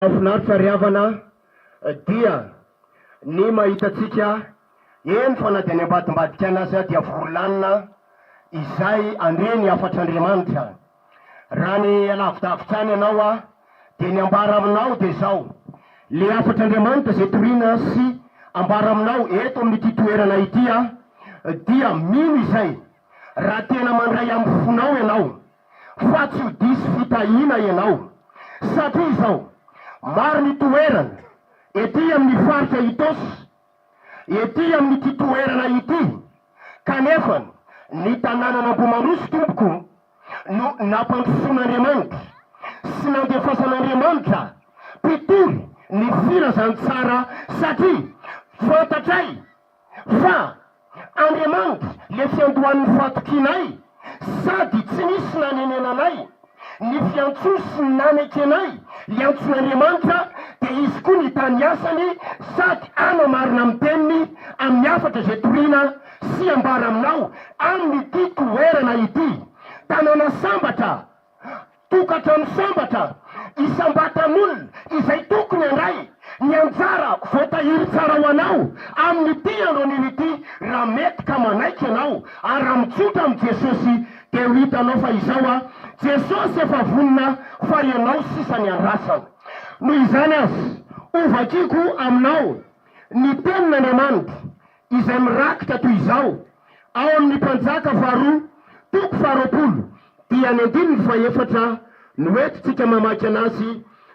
Mahafinaritra ry havana dia ny mahita antsika eny fa na dia any ambadimbadika any aza dia vory lanona izay handre ny hafatr'Andriamanitra. Raha ny alavidavitra any ianao aho dia ny ambara aminao dia izao, le hafatr'Andriamanitra izay toriana sy ambara aminao eto amin'ity toerana ity aho dia mino izay raha tena mandray amin'ny fonao ianao. fa tsy ho diso fitahiana ianao satria izao maro ny toerana ety amin'ny faritra Itaosy ety amin'ity toerana ity kanefa ny tanànan'Ambohimaroso tompoko no nampandrosoan'Andriamanitra sy nandefasan'Andriamanitra mpitory ny filazantsara satria fantatray fa Andriamanitra le fiandohan'ny fahatokianay sady tsy nisy nanenena anay, ny fiantsoa sy ny nanaiky anay hiantson'Andriamanitra dia izy koa nitaha ny asany sady hanao marina amin'ny teniny amin'ny hafatra izay toriana sy ambara aminao amin'ity toerana ity, tanàna sambatra tokantrano sambatra isam-batan'olona izay tokony handray ny anjara voatahiry tsara ho anao amin'ity andron'io ity raha mety ka manaiky ianao ary raha mitsotra amin'i Jesosy dia ho hitanao fa izao aho Jesosy efa vonona fa ianao sisa ny andrasana noho izany aza hovakiko aminao ny tenin'Andriamanitra izay mirakitra toy izao ao amin' ny Mpanjaka faharoa toko faharoapolo dia ny andininy fahefatra no entintsika mamaky an' azy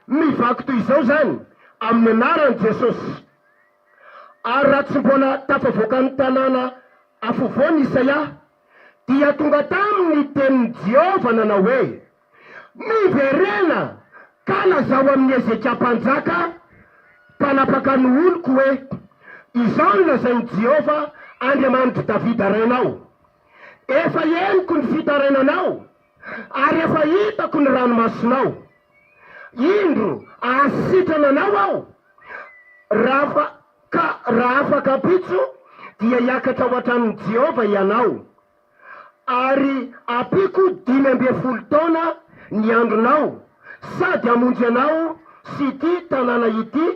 mivaky toy izao izany amin' ny anaran' i Jesosy. Ary raha tsy mbola tafavoaka ny tanàna afovoan' i Isaia dia tonga tamin' ny tenin' i Jehovah nanao hoe. Miverena ka lazao amin'i Hezekia mpanjaka mpanapaka ny oloko hoe, 'Izao no lazain'i Jehovah Andriamanitr'i Davida renao, Efa henoko ny fitarainanao ary efa hitako ny ranomasonao. Indro, hahasitrana anao aho, raha ka raha afaka ampitso, dia hiakatra ho hatramin'i Jehovah ianao. ary ampiako dimy ambin'ny folo taona ny andronao, sady hamonjy anao sy ity tanàna ity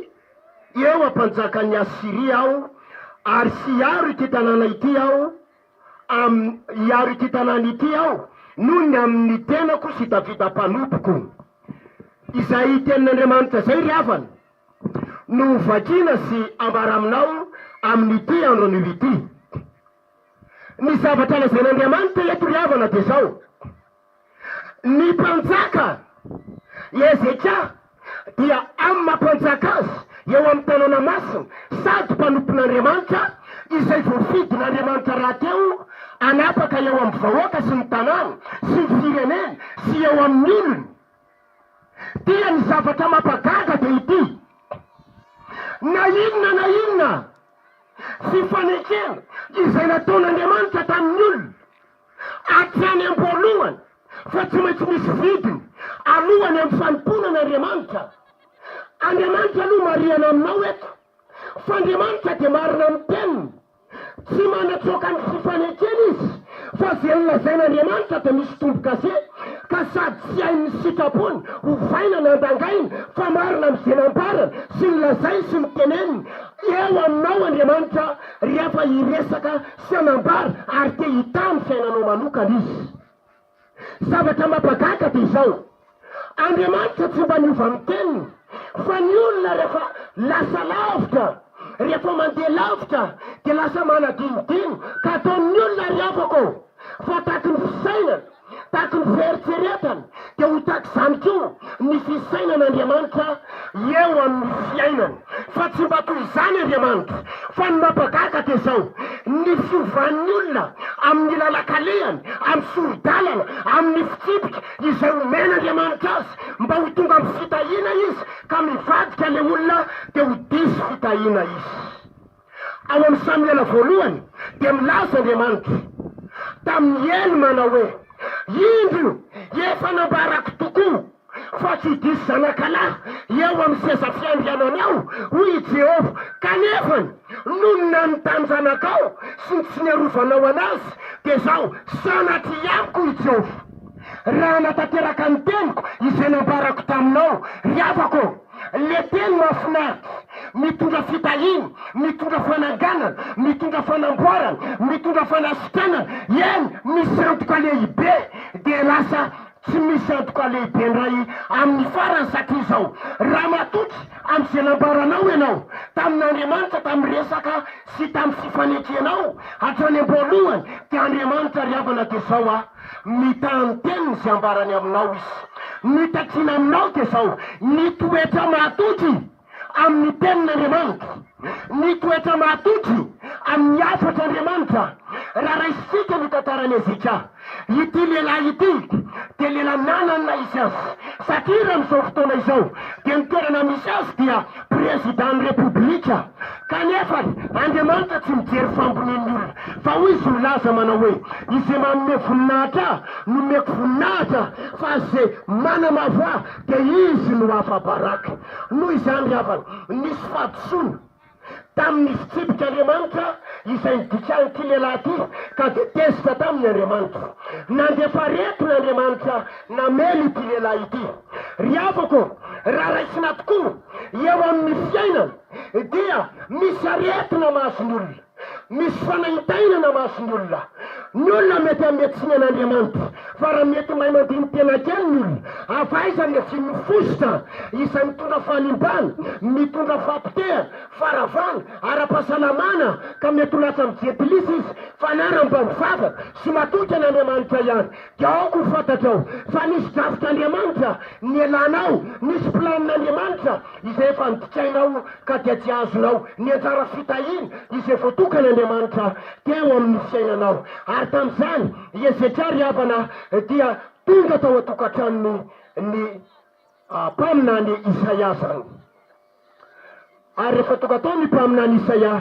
eo am-panjakan'ny Asyria aho, ary sy hiaro ity tanàna ity aho amin'ny, hiaro ity tanàna ity aho noho ny amin'ny tenako sy Davida mpanompoko. Izay tenin'Andriamanitra izay ry havana no hovakiana sy ambara aminao amin'ity andronio ity. Ny zavatra lazain'Andriamanitra eto ry havana dia izao, Ny mpanjaka i Hezekia dia amin'ny maha mpanjaka azy eo amin'ny tanàna masina sady mpanompon'Andriamanitra izay voafidin'Andriamanitra rahateo hanapaka eo amin'ny vahoaka sy ny tanàna sy ny fireneny sy eo amin'ny olony dia ny zavatra mampagaga dia ity, Na inona na inona. Tsy fanekena izay nataon'Andriamanitra tamin'ny olona hatrany am-boalohany fa tsy maintsy misy vidiny aloha ny amin'ny fanompoana an'Andriamanitra. Andriamanitra aloha marihana aminao eto fa Andriamanitra dia marina amin'ny teniny. Tsy manatsoaka ny tsy fanekena izy fa izay nolazain'Andriamanitra dia misy tombo-kase ka sady tsy hain'ny sitrapony ovaina na dangaina fa marina amin'izay nambarany sy nolazainy sy noteneniny Eo aminao Andriamanitra rehefa hiresaka sy hanambara ary te hitaha ny fiainanao manokana Izy. Zavatra mampagaka dia izao, Andriamanitra tsy mba miova amin'ny teniny, fa ny olona rehefa lasa lavitra, rehefa mandeha lavitra dia lasa manadinodino ka ataon'ny olona ary afaka ô! fa takin'ny fisainana. Tahaka ny fieritreretany, dia ho tahaka izany koa ny fisainan-Andriamanitra eo amin'ny fiainany. Fa tsy mba toy izany Andriamanitra. Fa ny mampagaga dia izao, ny fiovan'ny olona amin'ny lalan-kalehany, amin'ny sori-dalana, amin'ny fitsipika izay omen'Andriamanitra azy mba ho tonga amin'ny fitahiana izy ka mivadika ilay olona dia ho diso fitahiana izy. Ao amin'ny Samoela voalohany dia milaza Andriamanitra tamin'i Ely manao hoe, Indro, efa nambarako tokoa fa tsy diso zanakalahy eo amin'ny seza fiandriananao, hoy i Jehovah, kanefa nony nanontany zanakao sy ny tsy niarovanao anazy, dia izao, sanatria amiko, hoy i Jehovah, raha hanatanteraka ny teniko izay nambarako taminao, ry havako ô! Le teny mahafinaritra, mitondra fitahiana, mitondra fananganana, mitondra fanamboarana, mitondra fanasitranana, eny misy antoka lehibe dia lasa tsy misy antoka lehibe ndray amin'ny farany satria izao, raha matoky amin'izay nambaranao ianao tamin'Andriamanitra tamin'ny resaka sy tamin'ny fifanekenao hatrany am-boalohany dia Andriamanitra ry havana dia izao a. Mitaha ny teniny sy ambarany aminao izy. Ny takiana aminao dia izao, ny toetra mahatoky amin'ny tenin'Andriamanitra, ny toetra mahatoky amin'ny hafatr'Andriamanitra. Raha raisintsika ny tantaran'i Hezekia, ity lehilahy ity dia lehilahy nanana naha izy azy, satria raha amin'izao fotoana izao dia ny toerana misy azy dia. Prezidà ny Repoblika, kanefa Andriamanitra tsy mijery fambonian'ny olona, fa hoy izy milaza manao hoe, Izay manome voninahitra ahy, nomeko voninahitra, fa izay manamavo ahy, dia izy no afa-baraka. Noho izany ry havana, nisy fahadisoana tamin'ny fitsipik'Andriamanitra izay nidikahan'ity lehilahy ity, ka dia tezitra taminy Andriamanitra. Nandefa aretina Andriamanitra Namely ity lehilahy ity. Ry havako, raha raisina tokoa eo amin'ny fiainana dia misy aretina mahazo ny olona, misy fanaintainana mahazo ny olona. Ny olona mety hanome tsiny an'Andriamanitra, fa raha mety mahay mandini-tena kely ny olona, avaiza ny asiany ny fositra izay mitondra fahalimbana, mitondra fahapotehana, faharavana, ara-pahasalamana, ka mety ho latsa amin'ny jentilisa izy, fa na raha mba mivavaka sy matoky an'Andriamanitra ihany, Tiako ho fantatrao fa nisy drafitr'Andriamanitra nielanao, nisy planin'Andriamanitra izay efa nodikainao ka dia tsy azonao ny anjara fitahiana izay voatokan'Andriamanitra teo amin'ny fiainanao. Ary tamin'izany i Hezekia ry havana dia tonga tao an-tokantranony ny mpaminany Isaia zany. Ary rehefa tonga tao ny mpaminany Isaia,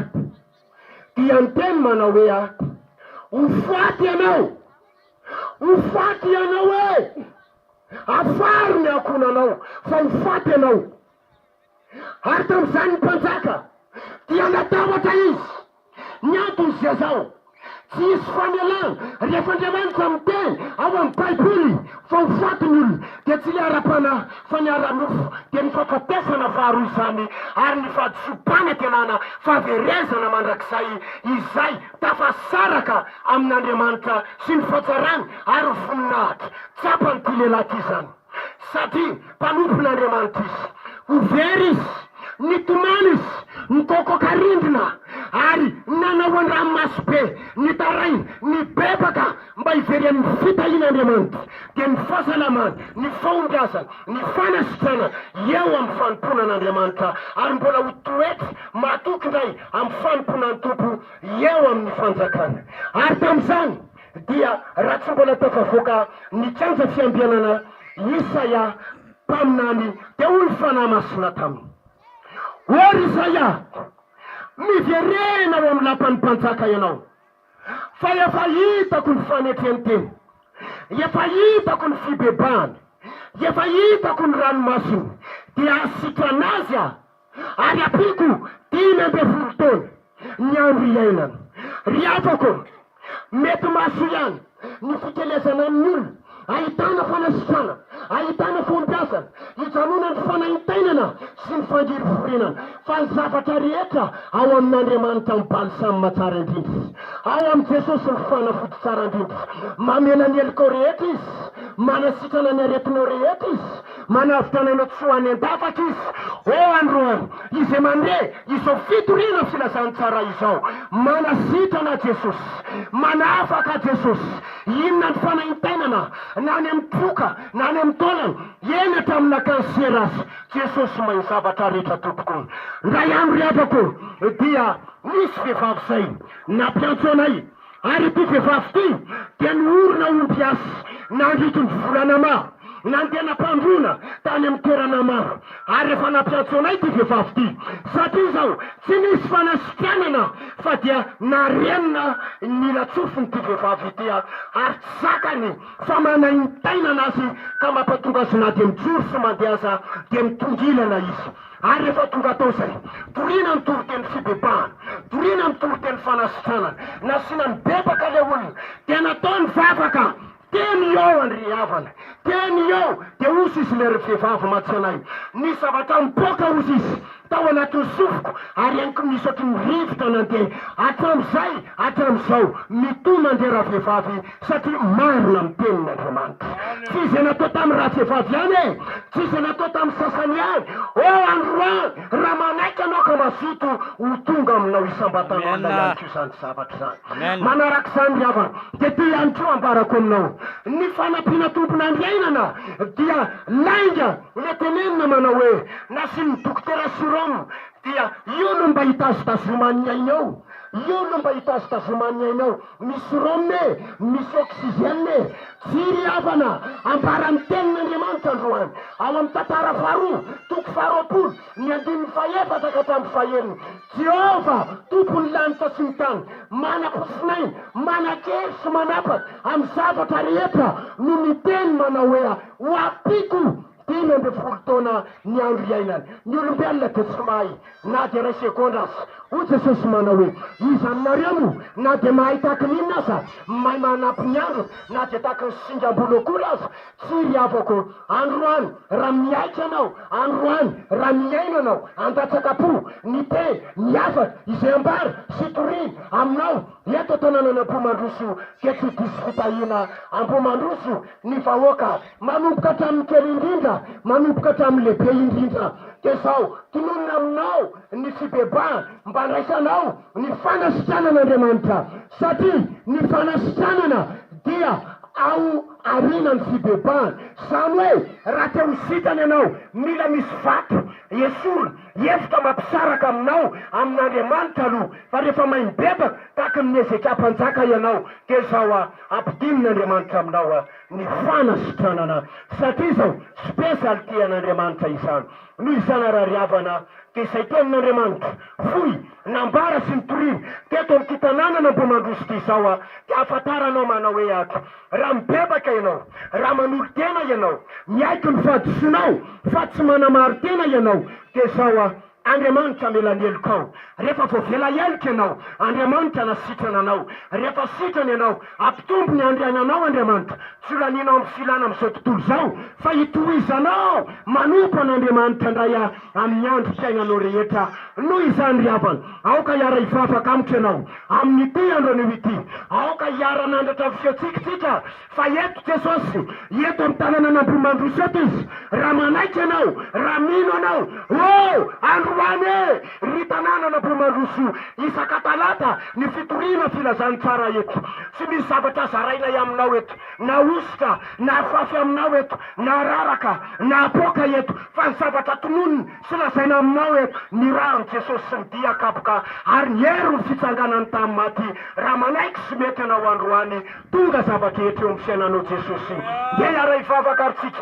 dia niteny manao hoe, Ho faty ianao! Ho faty ianao e! Afaro ny ankohonanao, fa ho faty ianao! Ary tamin'izany ny mpanjaka dia natahotra izy. Ny antony dia izao, Tsy hisy famelana rehefa Andriamanitra miteny ao amin'ny Baiboly fa ho faty ny olona, dia tsy ilay ara-panahy fa ny ara-nofo, dia ny fahafatesana faharoa izany, ary ny fahadisoam-panantenana, fahaverezana mandrakizay, izay tafasaraka amin'Andriamanitra sy ny fahatsarany ary ho voninahitra. Tsapan'ity lehilahy ity izany. Satria mpanompon'Andriamanitra izy, ho very izy, nitomany izy, nikokoka rindrina, ary nanao an-dranomaso be, nitaray, nibebaka, mba hivery amin'ny fitahian'Andriamanitra, dia ny fahasalamany, ny fahombiazany, ny fanasitranany eo amin'ny fanompoana an'Andriamanitra, ary mbola ho toetra mahatoky indray amin'ny fanompoana ny Tompo eo amin'ny fanjakany. Ary tamin'izany, dia raha tsy mbola tafavoaka ny kianja fiambianana Isaia mpaminany dia hoy ny Fanahy Masina taminy hoe ry Isaia miverena ao amin'ny lapan'ny mpanjaka ianao fa efa hitako ny fanetren-teny, efa hitako ny fibebahany, efa hitako ny ranomasony dia hasitrana azy aho. ary ampiako dimy ambin'ny folo taona ny andro iainany. Ry havako, mety mahasoa ihany ny fikelezana amin'ny olona ahitana fanasitranana, ahitana fahombiazana, hijanona ny fanaintainana sy ny fangiriforinana, fa ny zavatra rehetra ao amin'Andriamanitra amin'ny balsama tsara indrindra, ao amin'i Jesosy ny fanafody tsara indrindra. Mamela ny heloka ao rehetra Izy, manasitrana ny aretinao rehetra Izy. Manavotra anao tsy ho any an-dafaka izy. Ô andro ô, izay mandre izao fitoriana filazantsara izao, manasitrana Jesosy, manafaka Jesosy, inona ny fanaintainana na any amin'ny troka na any amin'ny taolana, eny hatramin'ny nakan'ny sera aza, Jesosy mahay ny zavatra rehetra tompoko. Indray andro havako dia nisy vehivavy izay nampiantso anay. Ary ity vehivavy ity dia niorina ho mpiasa nandritry ny volana maro, nandeha nampandroana tany amin'ny toerana maro, ary efa nampiantso anay ity vehivavy ity, satria izao tsy nisy fanasikanana fa dia narenina ny latsofin'ity vehivavy ity aho, ary tsy zakany fa manaintainana azy ka mampatonga azy na dia mijoro sy mandeha aza dia mitongilana izy. Ary rehefa tonga tao izay, dorina ny toriteny fibebahana, dorina ny toriteny fanasitranana, nasiana ny bebaka ilay olona, dia natao ny vavaka, dia nihaoa an-dry ry havana, dia nihaoa, dia hozy izy ilay ry vehivavy matsy anay, nisy zavatra nipoaka hozy izy tao anatin'ny sofiko, ary henoko misotro ny rivotra nandeha, hatramin'izay hatramin'izao, mitohy mandeha ravehivavy, Satria marina ny tenin'Andriamanitra. Tsy izay natao tamin'ny ratsevavy ihany e! Tsy izay natao tamin'ny sasany ihany! Ô androany, raha manaiky ianao ka mazoto, ho tonga aminao isam-batanao alina ihany koa izany zavatra izany. Manaraka izany ry havana, dia ity ihany koa ambarako aminao. Ny fanampiana tompon'andriainana dia lainga ilay tenenina manao hoe, Nasian'ny dokotera sur'homme, dia io no mba hitazitazoman'ny ainao. Io no mba hitazitazoman'ny ainao. Misy rhum e! Misy oxygène e! Tsy ry havana! Ambaran'ny Tenin'Andriamanitra androany, ao amin'ny Tantara faharoa, toko faharoapolo, ny andininy fahefatra ka hatramin'ny fahenina, Jehovah, Tompon'ny lanitra sy ny tany, manam-pofinaina, manan-kery sy manapaka amin'ny zavatra rehetra, no niteny manao hoe, Ho ampiako Dimy ambin'ny folo taona ny andro iainany. Ny olombelona dia tsy mahay na dia iray segondra aza. Hoy Jesosy manao hoe, Iza aminareo no, na dia mahay tahaky ny inona aza, mahay manampy ny androny, na dia tahaky ny singam-bolo akory aza? Tsia, ry havako, androany, raha miaiky ianao, androany, raha mihaino ianao, handatsaka-po, ny teny, ny hafatra, izay ambara sy toriana, aminao, Eto an-tanànan' Ambohimandroso io dia tsy diso fitahiana Ambohimandroso ny vahoaka, manomboka hatramin' ny kely indrindra manomboka hatramin' ny lehibe indrindra. Dia izao, tononina aminao ny fibebaha mba handraisanao ny fanasitranana Andriamanitra, satria ny fanasitranana dia ao aoriana ny fibebahana, izany hoe raha te ho sitrana ianao mila misy vato esorina, Hihevitra mampisaraka aminao amin'Andriamanitra aloha, fa rehefa may mibebaka tahaka ny Hezekia mpanjaka ianao, dia izao a, ampidinon'Andriamanitra aminao a, ny fanasitranana, satria izao spesialy tian'Andriamanitra izany, noho izany arariavana, dia izay tenin'Andriamanitra, fohy, Nambara sy nitoriana teto amin'ity tanànan'Ambohimandroso ity izao aho dia hahafantara anao manao hoe ato, raha mibebaka ianao, raha manolo-tena ianao, miaiky ny fahadisoanao fa tsy manamarin-tena ianao dia izao aho, Andriamanitra hamela ny helokao, rehefa voavela heloka ianao, Andriamanitra hanasitrana anao, rehefa sitrana ianao, hampitombo ny handriana anao Andriamanitra, tsy ho lanianao amin'ny filana amin'izao tontolo izao fa hitohizanao manompo an'Andriamanitra indray aho. amin'ny andro fiainanao rehetra. Noho izany, ry havana, aoka hiara-hifafaka amiko ianao amin'ity andro anio ity. Aoka hiara-hanandratra ny fihetsika isika, fa eto Jesosy, eto amin'ny tanànan'Ambohimandroso eto Izy, raha manaiky ianao, raha mino ianao. Oh! Androany e! Ry tanànan'Ambohimandroso, isaka talata, ny fitoriana filazan'ny tsara eto. Tsy misy zavatra zarainay aminao eto. na hosoka, na afafy aminao eto, na araraka, na apoaka eto, fa ny zavatra tononina sy lazaina aminao eto, ny rariny Jesosy sy ny dia kapoka ary ny hery ny fitsanganany tamin'ny maty, raha manaiky sy mety ianao androany, tonga zava-drehetra eo amin'ny fiainanao Jesosy, ndeha hiara-hivavaka ary tsika.